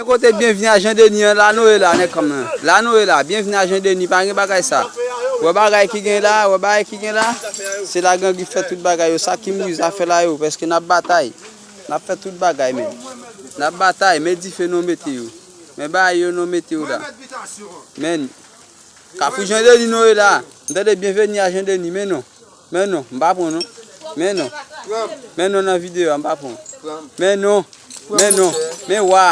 Gen kote byenvni a jandeni an la nou e la nèg kòm nan la nou e la byenvni a jandeni pa gen bagay sa wè bagay ki gen la wè bagay ki gen la se la gangi fè tout bagay yo sa ki mouri zafè la yo pèske nap batay nap fè tout bagay men nap batay men dife nou mete yo men bagay yo nou mete yo la men kafou jandeni nou e la m tande byenveni a jandeni men non. Men non, m pa pran non. Men non. Men non nan video a, m pa pran. Men non. Men non. Men wa.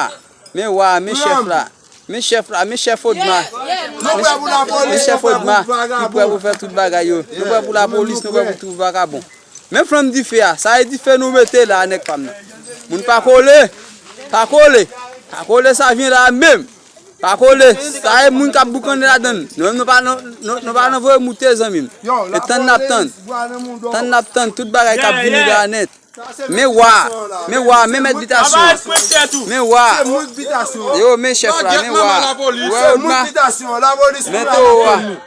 Men wa, men chef la. Men chef la, men chef odma. Men chef odma, ki pre pou fè tout bagay yo. Nou pre pou la polis, nou pre pou tout vakabon. Men flanm dife a, sa e dife nou mete la nèk pa m nan. Moun pa kole, pa kole. Pa kole sa vyen la menm. Pa kole, sa e moun kap boukannen ladann. Nou menm nou pa nan voye moute zanmim. E tann nap tann. Tann nap tann tout bagay kap vini la net. Men wa, men wa, men met bitasyon. Men wa. Yo men chef la, men wa. Ou e ou dma. Men to wa.